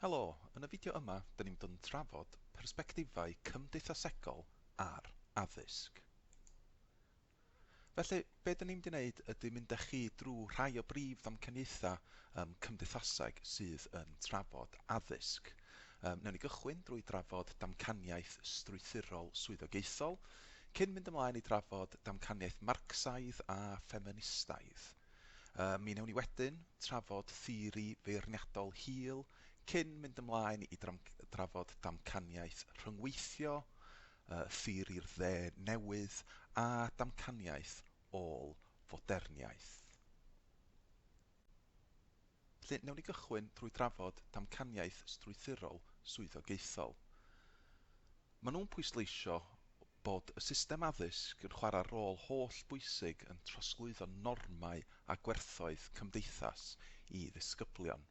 Helo, yn y fideo yma dyn ni'n mynd yn trafod persbectifau cymdeithasegol ar addysg. Felly, be dyn ni'n mynd i wneud ydy mynd â chi drwy rhai o brif ddamcaniaethau um, cymdeithaseg sydd yn trafod addysg. Um, newn ni gychwyn drwy drafod damcaniaeth strwythurol swyddogaethol, cyn mynd ymlaen i drafod damcaniaeth Marcsaidd a ffeministaidd. Mi wnewn ni wedyn trafod theori feirniadol hil cyn mynd ymlaen i drafod damcaniaeth rhyngweithio, theori'r dde newydd a damcaniaeth ôl-foderniaeth. Felly, wnewn ni gychwyn drwy drafod damcaniaeth strwythurol swyddogaethol. Maen nhw'n pwysleisio bod y system addysg yn chwarae rôl holl bwysig yn trosglwyddo normau a gwerthoedd cymdeithas i ddisgyblion.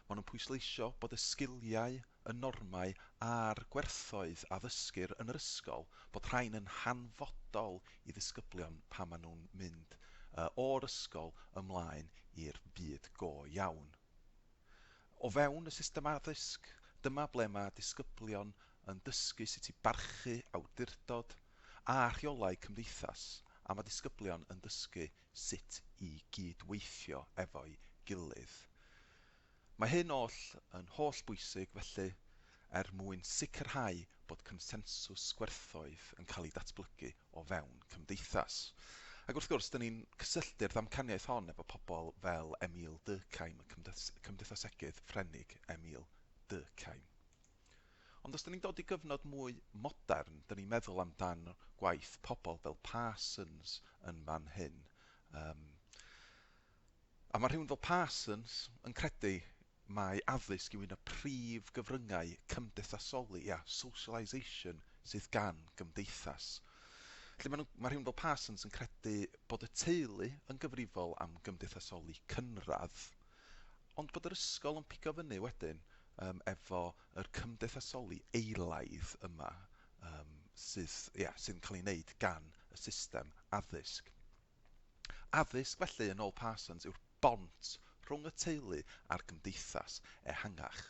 Maen nhw'n pwysleisio bod y sgiliau, y normau a'r gwerthoedd a ddysgir yn yr ysgol, bod rhain yn hanfodol i ddisgyblion pan maen nhw'n mynd o'r ysgol ymlaen i'r byd go iawn. O fewn y system addysg, dyma ble mae disgyblion yn dysgu sut i barchu awdurdod a rheolau cymdeithas a mae disgyblion yn dysgu sut i gyd-weithio efo'i gilydd. Mae hyn oll yn holl bwysig felly er mwyn sicrhau bod consensws gwerthoedd yn cael ei datblygu o fewn cymdeithas. Ac wrth gwrs, 'da ni'n cysylltu'r ddamcaniaeth hon efo pobl fel Emile Durkheim, y cymdeithasegydd Ffrenig Emile Durkheim. Ond os 'da ni'n dod i gyfnod mwy modern, 'da ni'n meddwl amdan gwaith pobl fel Parsons yn fan hyn. Um, A mae rhywun fel Parsons yn credu mai addysg yw un o prif gyfryngau cymdeithasoli, ia, socialisation, sydd gan gymdeithas. Felly mae, nhw, mae rhywun fel Parsons yn credu bod y teulu yn gyfrifol am gymdeithasoli cynradd, ond bod yr ysgol yn pigo fyny wedyn um, efo yr cymdeithasoli eilaidd yma um, sydd, ia, sydd yn cael ei wneud gan y system addysg. Addysg, felly, yn ôl Parsons, yw'r bont rhwng y teulu a'r gymdeithas ehangach.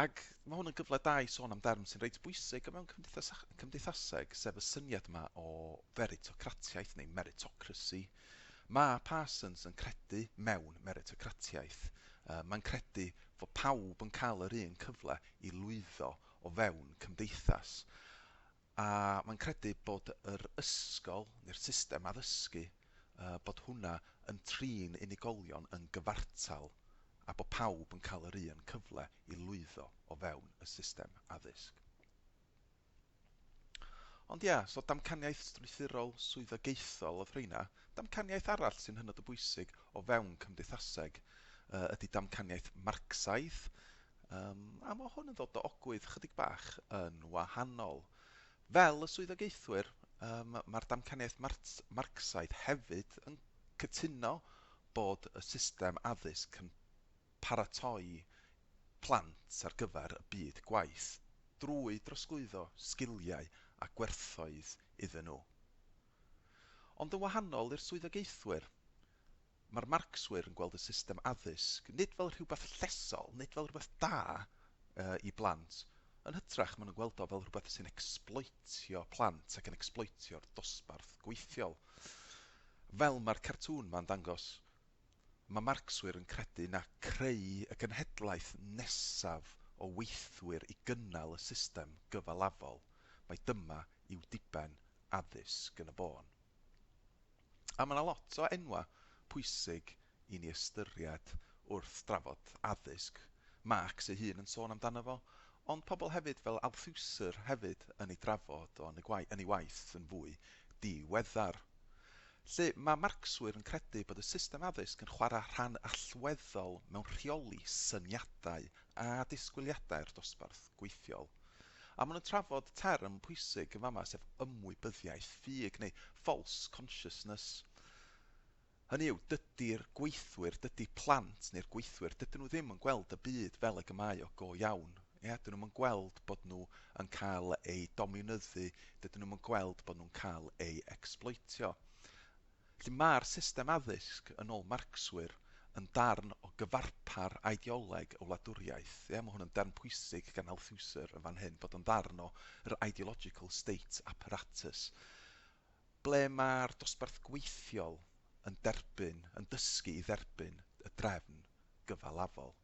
Ac mae hwn yn gyfle da i sôn am derm sy'n reit bwysig o mewn cymdeithas, cymdeithaseg, sef y syniad yma o feritocratiaeth neu meritocracy. Mae Parsons yn credu mewn meritocratiaeth. Uh, mae'n credu fod pawb yn cael yr un cyfle i lwyddo o fewn cymdeithas. A mae'n credu bod yr ysgol neu'r system addysgu, bod hwnna yn trin unigolion yn gyfartal a bod pawb yn cael yr un cyfle i lwyddo o fewn y system addysg. Ond ia, so damcaniaeth strwythurol swyddogaethol oedd rheina. Damcaniaeth arall sy'n hynod o bwysig o fewn cymdeithaseg ydy damcaniaeth Marcsaidd, Yym, a ma' hwn yn ddod o ogwydd chydig bach yn wahanol. Fel y swyddogaethwyr, yym, ma'r damcaniaeth Marts- Marcsaidd hefyd yn cytuno bod y system addysg yn paratoi plant ar gyfer y byd gwaith drwy drosglwyddo sgiliau a gwerthoedd iddyn nhw. Ond yn wahanol i'r swyddogaethwyr, Mae'r Marcswyr yn gweld y system addysg nid fel rhywbeth llesol, nid fel rhywbeth da i blant, yn hytrach maen nhw'n gweld o fel rhywbeth sy'n ecsbloetio plant ac yn ecsbloetio'r dosbarth gweithiol. Fel mae'r cartŵn ma'n dangos, mae Marcswyr yn credu na creu y genhedlaeth nesaf o weithwyr i gynnal y system gyfalafol, mai dyma yw diben addysg yn y bôn. A ma' 'na lot o enwa' pwysig i ni ystyried wrth drafod addysg. Marx ei hun yn sôn amdano fo, ond pobl hefyd fel Althusser hefyd yn ei drafod o yn y gwae- yn ei waith yn fwy diweddar. Lly, ma' Marcswyr yn credu bod y system addysg yn chwara' rhan allweddol mewn rheoli syniadau a disgwyliadau'r dosbarth. gweithiol. A maen nhw'n trafod term pwysig yn fama sef ymwybyddiaeth ffug neu false consciousness. Hynny yw, dydy'r gweithwyr, dydy plant neu'r gweithwyr, dydyn nhw ddim yn gweld y byd fel ag y mae o go iawn. Ia, dyn nhw'm yn gweld bod nhw yn cael eu domiwnyddu, dydyn nhw'm yn gweld bod nhw'n cael eu ecsbloetio. Felly, mae'r system addysg, yn ôl Marcswyr, yn darn o gyfarpar ideoleg y wladwriaeth. Ie, mae hwn yn derm pwysig gan Althusser yn fan hyn, bod o'n ddarn o yr ideological state apparatus, ble mae'r dosbarth gweithiol yn derbyn, yn dysgu i dderbyn y drefn gyfalafol.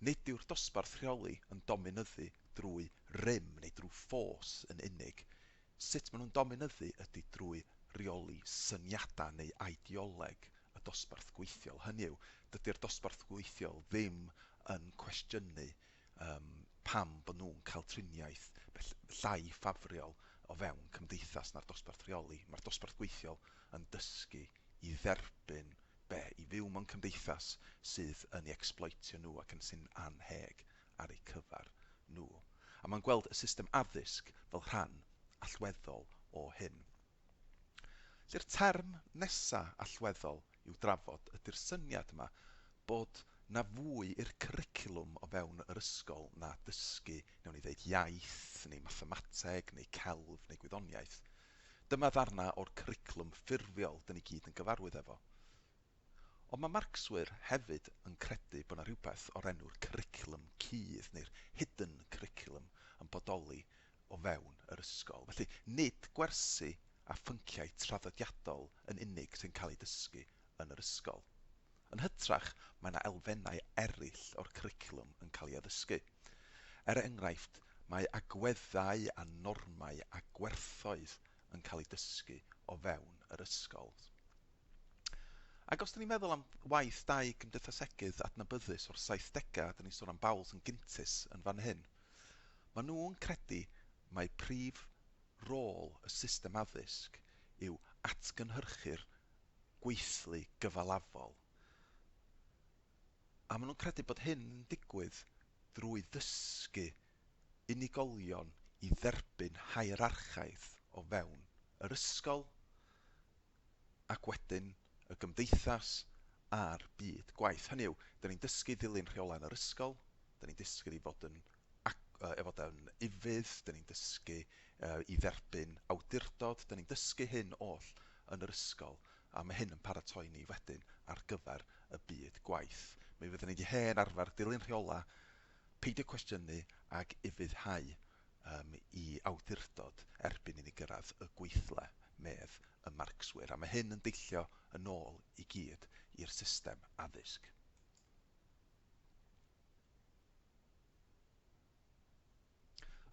Nid yw'r dosbarth rheoli yn dominyddu drwy rym neu drwy ffos yn unig. Sut maen nhw'n dominyddu ydy drwy reoli syniadau neu ideoleg y dosbarth gweithiol. Hynny yw, dydy'r dosbarth gweithiol ddim yn cwestiynu um, pam bod nhw'n cael triniaeth llai ffafriol o fewn cymdeithas na'r dosbarth rheoli. Mae'r dosbarth gweithiol yn dysgu i dderbyn be i fyw mewn cymdeithas sydd yn i ecsbloetio nhw ac yn sy'n annheg ar eu cyfer nhw. A mae'n gweld y system addysg fel rhan allweddol o hyn. Lle'r term nesa allweddol i'w drafod ydy'r syniad yma bod na fwy i'r cwricwlwm o fewn yr ysgol na dysgu, newn ni ddeud, iaith, neu mathemateg, neu celf, neu gwyddoniaeth. Dyma ddarnau o'r cwricwlwm ffurfiol dyn ni gyd yn gyfarwydd efo. Ond mae Marcswyr hefyd yn credu bod 'na rhywbeth o'r enw'r cwricwlwm cudd neu'r hidden curriculum yn bodoli o fewn yr ysgol. Felly, nid gwersi a phynciau traddodiadol yn unig sy'n cael eu dysgu yn yr ysgol. Yn hytrach, mae yna elfennau eraill o'r cwricwlwm yn cael ei addysgu. Er enghraifft, mae agweddau a normau a gwerthoedd yn cael eu dysgu o fewn yr ysgol. Ac os 'da ni'n meddwl am waith dau gymdeithasegydd adnabyddus o'r saithdegau, 'da ni'n sôn am Bowles and Gintis yn fan hyn, maen nhw'n credu mai prif rôl y system addysg yw atgynhyrchu'r gweithlu gyfalafol, a maen nhw'n credu bod hyn yn digwydd drwy ddysgu unigolion i dderbyn hierarchaidd o fewn yr ysgol ac wedyn y gymdeithas a'r byd gwaith. Hynny yw, 'da ni'n dysgu i ddilyn rheolau yn yr ysgol, 'da ni'n dysgu i fod yn ac uh, efo yn ufudd, dyn ni'n dysgu uh, i dderbyn awdurdod, dyn ni'n dysgu hyn oll yn yr ysgol, a mae hyn yn paratoi ni wedyn ar gyfer y byd gwaith. Mi fyddwn ni wedi hen arfer dilyn rheola, peidio cwestiynu ac ufuddhau um, i awdurdod erbyn i ni gyrraedd y gweithle, medd y marcswyr. A mae hyn yn deillio yn ôl i gyd i'r system addysg.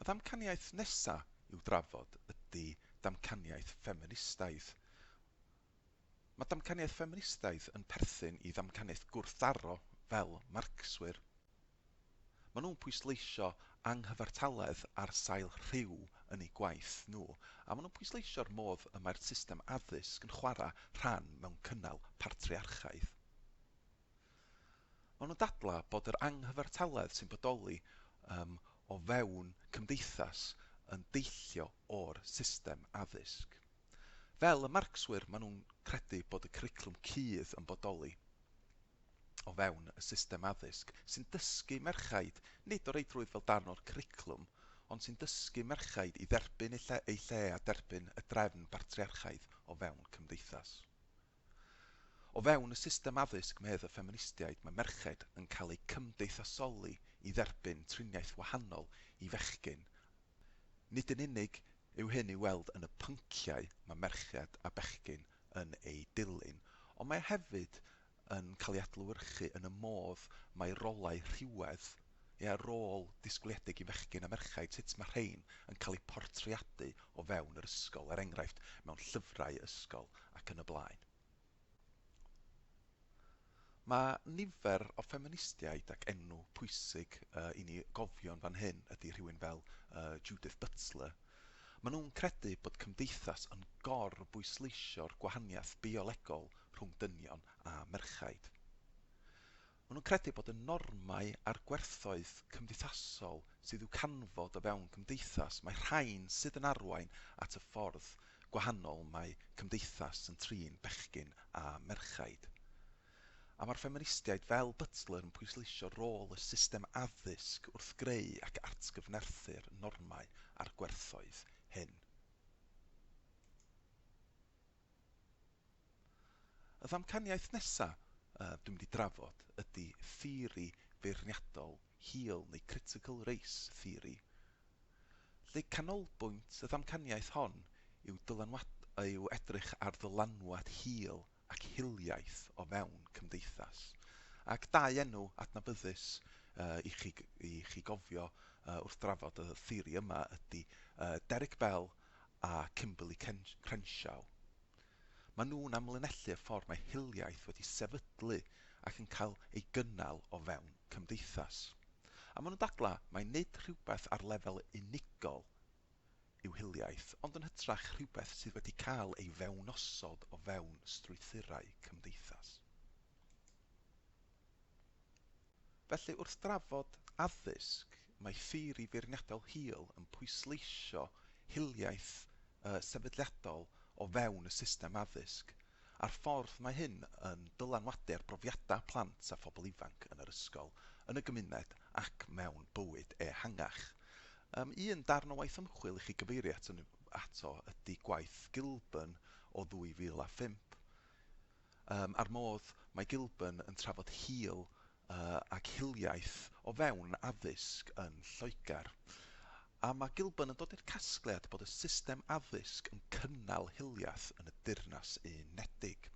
Y ddamcaniaeth nesa' i'w drafod ydi damcaniaeth ffeministaidd. Mae damcaniaeth ffeministaidd yn perthyn i ddamcaniaeth gwrthdaro fel Marcswyr. Maen nhw'n pwysleisio anghyfartaledd ar sail rhyw yn eu gwaith nhw, a maen nhw'n pwysleisio'r modd y mae'r system addysg yn chwarae rhan mewn cynnal patriarchaidd. Maen nhw'n dadlau bod yr anghyfartaledd sy'n bodoli um, o fewn cymdeithas yn deillio o'r system addysg. Fel y Marcswyr, maen nhw'n credu bod y cwricwlwm cudd yn bodoli o fewn y system addysg sy'n dysgu merchaid, nid o reidrwydd fel darn o'r cwricwlwm, ond sy'n dysgu merchaid i dderbyn eu lle, eu lle a derbyn y drefn bartriarchaidd o fewn cymdeithas. O fewn y system addysg medd y ffeministiaid mae merched yn cael eu cymdeithasoli i dderbyn triniaeth wahanol i fechgyn. Nid yn unig yw hyn i'w weld yn y pynciau mae merched a bechgyn yn eu dilyn, ond mae hefyd yn cael ei adlewyrchu yn y modd mae rolau rhywedd Ia, rôl disgwyliedig i fechgyn a merchaid, sut mae rhein yn cael eu portreadu o fewn yr ysgol, er enghraifft, mewn llyfrau ysgol ac yn y blaen. Mae nifer o ffeministiaid ac enw pwysig uh, i ni gofio'n fan hyn ydy rhywun fel uh, Judith Butler. Maen nhw'n credu bod cymdeithas yn gor bwysleisio'r gwahaniaeth biolegol rhwng dynion a merchaid. Maen nhw'n credu bod y normau a'r gwerthoedd cymdeithasol sydd i'w canfod o fewn cymdeithas, mae rhain sydd yn arwain at y ffordd gwahanol mae cymdeithas yn trin bechgyn a merchaid. A mae'r ffeministiaid fel Butler yn pwysleisio rôl y system addysg wrth greu ac atgyfnerthu'r normau a'r gwerthoedd hyn. Y ddamcaniaeth nesaf dwi'n mynd i drafod ydy theori feirniadol hil neu critical race theory, lle canolbwynt y ddamcaniaeth hon yw yw edrych ar ddylanwad hil ac hiliaeth o fewn cymdeithas. Ac dau enw adnabyddus i chi i chi gofio wrth drafod y theori yma ydy Derek Bell a Kimberley Crenshaw. Maen nhw'n amlinellu y ffordd mae hiliaeth wedi sefydlu ac yn cael ei gynnal o fewn cymdeithas. A maen nhw'n dadlau mai nid rhywbeth ar lefel unigol yw hiliaeth, ond yn hytrach rhywbeth sydd wedi cael ei fewnosod o fewn strwythurau cymdeithas. Felly, wrth drafod addysg, mae theori feirniadaol Hill yn pwysleisio hiliaeth sefydliadol o fewn y system addysg, a'r ffordd mae hyn yn dylanwadu ar brofiadau plant a phobl ifanc yn yr ysgol, yn y gymuned ac mewn bywyd ehangach. Un darn o waith ymchwil i chi gyfeirio ato ydy gwaith Gilburn o 2005. Ym a'r modd mae Gilburn yn trafod hil ac hiliaeth o fewn addysg yn Lloegr. A mae Gilburn yn dod i'r casgliad bod y system addysg yn cynnal hiliaeth yn y Deyrnas Unedig.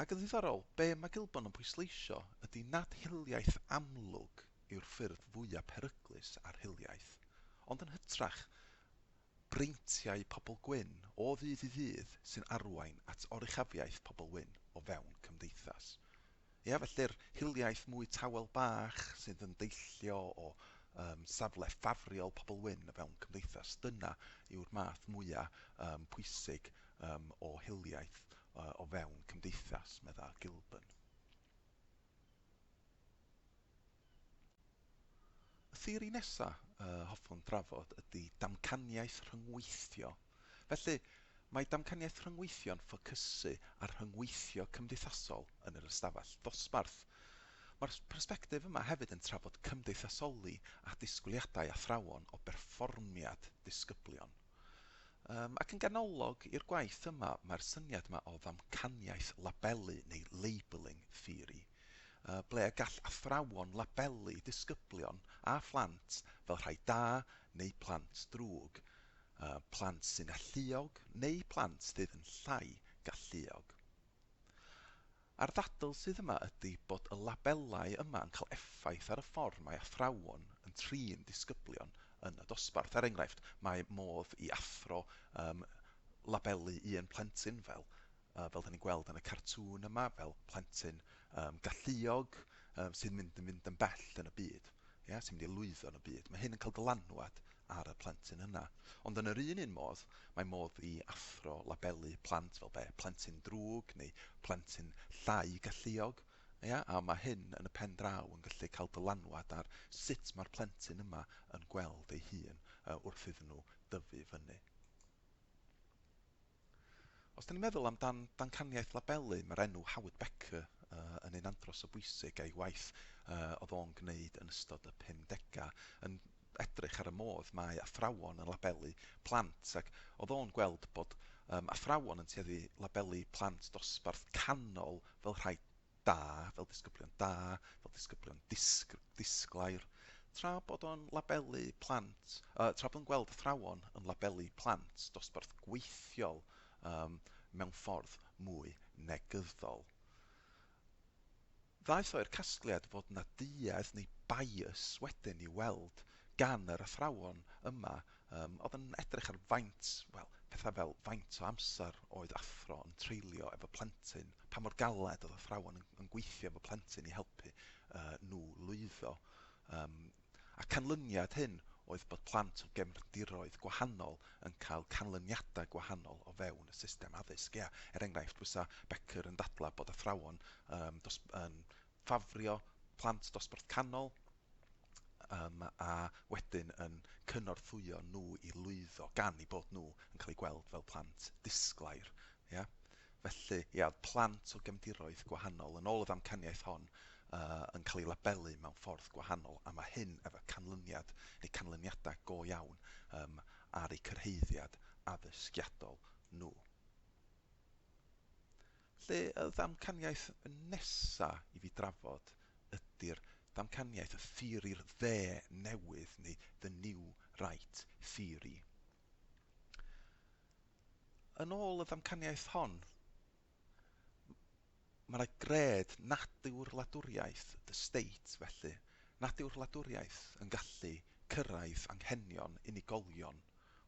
Ac yn ddiddorol, be mae Gilburn yn pwysleisio ydy nad hiliaeth amlwg yw'r ffurf fwya' peryglus ar hiliaeth, ond yn hytrach, breintiau pobl gwyn o ddydd i ddydd sy'n arwain at oruchafiaeth pobl wyn o fewn cymdeithas. Ia, felly'r hiliaeth mwy tawel bach sydd yn deillio o um, safle ffafriol pobl wyn o fewn cymdeithas, dyna yw'r math mwyaf um, pwysig um, o hiliaeth uh, o fewn cymdeithas, medda Gilburn. Y theori nesaf y hoffwn drafod ydy damcaniaeth rhyngweithio. Felly, mae damcaniaeth rhyngweithio yn ffocysu ar rhyngweithio cymdeithasol yn yr ystafell ddosbarth. Mae'r persbectif yma hefyd yn trafod cymdeithasoli a disgwyliadau athrawon o berfformiad disgyblion. Yym, ac yn ganolog i'r gwaith yma, mae'r syniad yma o ddamcaniaeth labelu neu labelling theory, yy ble y gall athrawon labelu disgyblion a phlant fel rhai da neu plant drwg, yy plant sy'n alluog neu plant sydd yn llai galluog. A'r ddadl sydd yma ydy bod y labelau yma yn cael effaith ar y ffordd mae athrawon yn trin disgyblion yn y dosbarth. Er enghraifft, mae modd i athro um, labelu un plentyn fel, uh, fel da ni'n gweld yn y cartŵn yma, fel plentyn um, galluog um, sy'n mynd yn fynd yn bell yn y byd, yeah, sy'n mynd i lwyddo yn y byd. Mae hyn yn cael dylanwad ar y plentyn yna. Ond yn yr un un modd, mae modd i athro labelu plant fel be, plentyn drwg neu plentyn llai galluog, ia? A mae hyn yn y pen draw yn gallu cael dylanwad ar sut mae'r plentyn yma yn gweld ei hun wrth iddyn nhw dyfu fyny. Os 'da ni'n meddwl am dan dancaniaeth labelu, mae'r enw Howard Becker yn un andros o bwysig a'i waith oedd o'n gwneud yn ystod y 50au yn edrych ar y modd mae athrawon yn labelu plant ac oedd o'n gweld bod athrawon yn tueddu labelu plant dosbarth canol fel rhai da, fel disgyblion da, fel disgyblion disg- disglair, tra bod o'n labelu plant, uh, tra bod o'n gweld athrawon yn labelu plant dosbarth gweithiol um, mewn ffordd mwy negyddol. Ddaeth o i'r casgliad fod na duedd neu bias wedyn i weld gan yr athrawon yma Yym, oedd yn edrych ar faint, wel, pethau fel faint o amser oedd athro yn treulio efo plentyn, pa mor galed oedd athrawon yn, yn gweithio efo plentyn i helpu uh, nhw lwyddo. Um, a canlyniad hyn oedd bod plant o gefndiroedd gwahanol yn cael canlyniadau gwahanol o fewn y system addysg. Ia, er enghraifft, fysa Becker yn dadlau bod athrawon um, dos, yn ffafrio plant dosbarth canol, um, a wedyn yn cynorthwyo nhw i lwyddo gan i bod nhw yn cael eu gweld fel plant disglair. Ia? Felly, ia, oedd plant o gefndiroedd gwahanol yn ôl y ddamcaniaeth hon uh, yn cael ei labelu mewn ffordd gwahanol a mae hyn efo canlyniad neu canlyniadau go iawn um, ar eu cyrhaeddiad addysgiadol nhw. Lle y ddamcaniaeth nesa i fi drafod ydi'r damcaniaeth y theori'r dde newydd neu the new right theory. Yn ôl y ddamcaniaeth hon, mae yna gred nadur wladwriaeth, the state, felly, nadur wladwriaeth yn gallu cyrraedd anghenion unigolion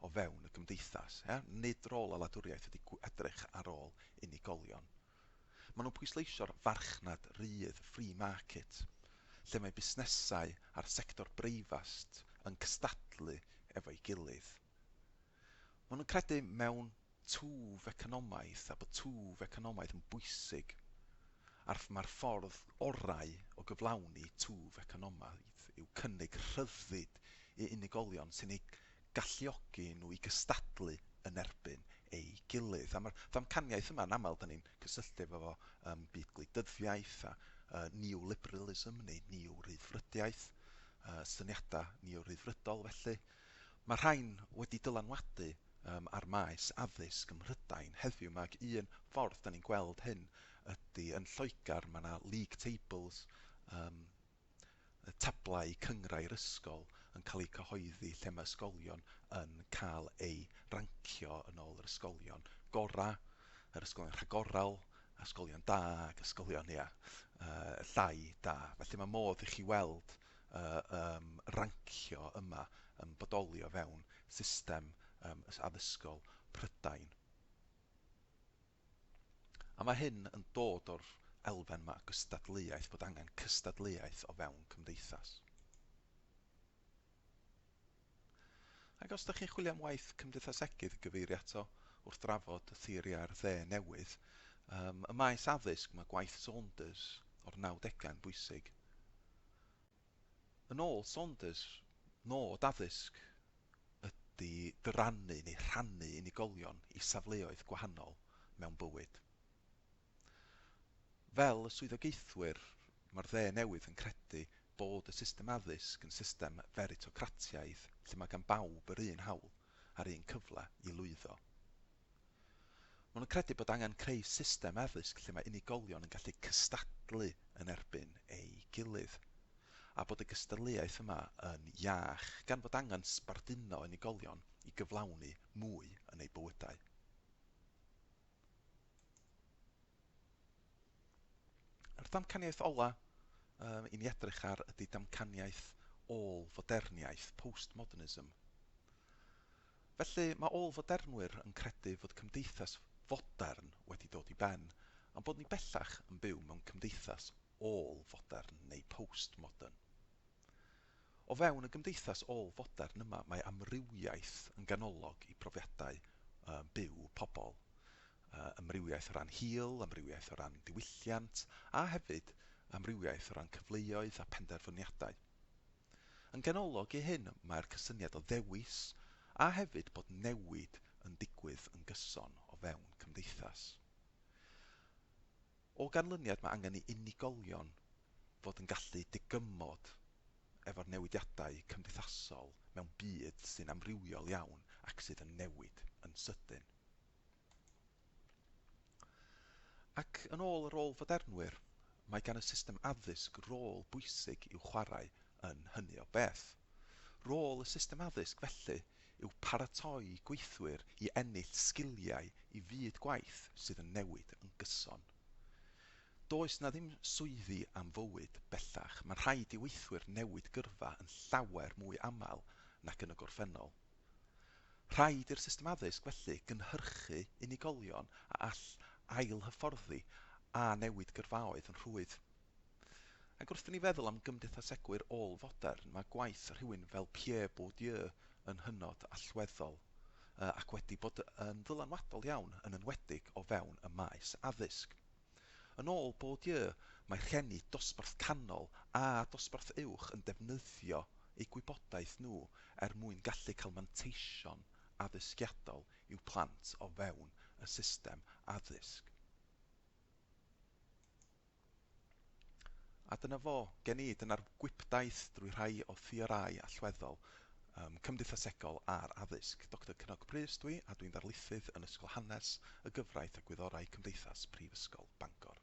o fewn y gymdeithas, ia? Nid rôl y wladwriaeth ydy edrych ar ôl unigolion. Maen nhw'n pwysleisio'r farchnad rydd, free market, lle mae busnesau a'r sector breifast yn cystadlu efo'i gilydd. Maen nhw'n credu mewn twf economaidd a bod twf economaidd yn bwysig a'r mae'r ffordd orau o gyflawni twf economaidd yw cynnig rhyddid i unigolion sy'n eu galluogi nhw i gystadlu yn erbyn ei gilydd. A mae'r ddamcaniaeth yma, yn aml, da ni'n cysylltu efo fo ym byd gwleidyddiaeth a uh, neoliberalism neu neo-ryddfrydiaeth, uh, syniadau neo-ryddfrydol felly, Mae'r rhain wedi dylanwadu ar maes addysg ym Mhrydain heddiw 'ma ac un ffordd dan ni'n gweld hyn ydy yn Lloegr mae 'na league tables, y tablau cynghrair ysgol, yn cael eu cyhoeddi lle mae ysgolion yn cael eu rancio yn ôl yr ysgolion gorau, yr ysgolion rhagorol, ysgolion da ac ysgolion, ia, llai da. Felly mae modd i chi weld y yym rancio yma yn bodoli o fewn system yym addysgol Prydain. A mae hyn yn dod o'r elfen yma o gystadleuaeth, bod angen cystadleuaeth o fewn cymdeithas. Ac os ydych chi'n chwilio am waith cymdeithasegydd i gyfeirio ato wrth drafod y theoriau'r dde newydd, ym maes addysg mae gwaith Saunders o'r nawdegau yn bwysig. Yn ôl Saunders, nod addysg ydy dyrannu neu rhannu unigolion i safleoedd gwahanol mewn bywyd. Fel y swyddogaethwyr, mae'r dde newydd yn credu bod y system addysg yn system feritocratiaidd lle mae gan bawb yr un hawl a'r un cyfle i lwyddo. Maen nhw'n credu bod angen creu system addysg lle mae unigolion yn gallu cystadlu yn erbyn ei gilydd, a bod y gystadleuaeth yma yn iach, gan fod angen sbarduno unigolion i gyflawni mwy yn eu bywydau. Yr damcaniaeth ola um, i ni edrych ar ydy damcaniaeth ôl foderniaeth, postmodernism. Felly, mae ôl fodernwyr yn credu fod cymdeithas fodern wedi dod i ben, am bod ni bellach yn byw mewn cymdeithas ôl-fodern neu post-modern. O fewn y gymdeithas ôl-fodern yma mae amrywiaeth yn ganolog i brofiadau byw pobl. Amrywiaeth o ran hil, amrywiaeth o ran diwylliant a hefyd amrywiaeth o ran cyfleoedd a phenderfyniadau. Yn ganolog i hyn mae'r cysyniad o ddewis a hefyd bod newid yn digwydd yn gyson o fewn cymdeithas. O ganlyniad mae angen i unigolion fod yn gallu digymod efo'r newidiadau cymdeithasol mewn byd sy'n amrywiol iawn ac sydd yn newid yn sydyn. Ac yn ôl yr ôl-fodernwyr, mae gan y system addysg rôl bwysig i'w chwarae yn hynny o beth. Rôl y system addysg felly yw paratoi gweithwyr i ennill sgiliau i fyd gwaith sydd yn newid yn gyson. Does 'na ddim swyddi am fywyd bellach, mae'n rhaid i weithwyr newid gyrfa yn llawer mwy aml nac yn y gorffennol. Rhaid i'r system addysg felly gynhyrchu unigolion a all ail-hyfforddi a newid gyrfaoedd yn rhwydd. Ac wrth i ni feddwl am gymdeithasegwyr ôl-fodern, mae gwaith rhywun fel Pierre Bourdieu yn hynod allweddol, ac wedi bod yn ddylanwadol iawn, yn enwedig o fewn y maes addysg. Yn ôl Bourdieu, mae rhieni dosbarth canol a dosbarth uwch yn defnyddio eu gwybodaeth nhw er mwyn gallu cael manteision addysgiadol i'w plant o fewn y system addysg. A dyna fo, gen i, dyna'r gwibdaith drwy rhai o theorau allweddol um, cymdeithasegol a'r addysg. Doctor Cynog Prys dwi, a dwi'n ddarlithydd yn Ysgol Hanes, y Gyfraith a Gwyddorau Cymdeithas Prifysgol Bangor.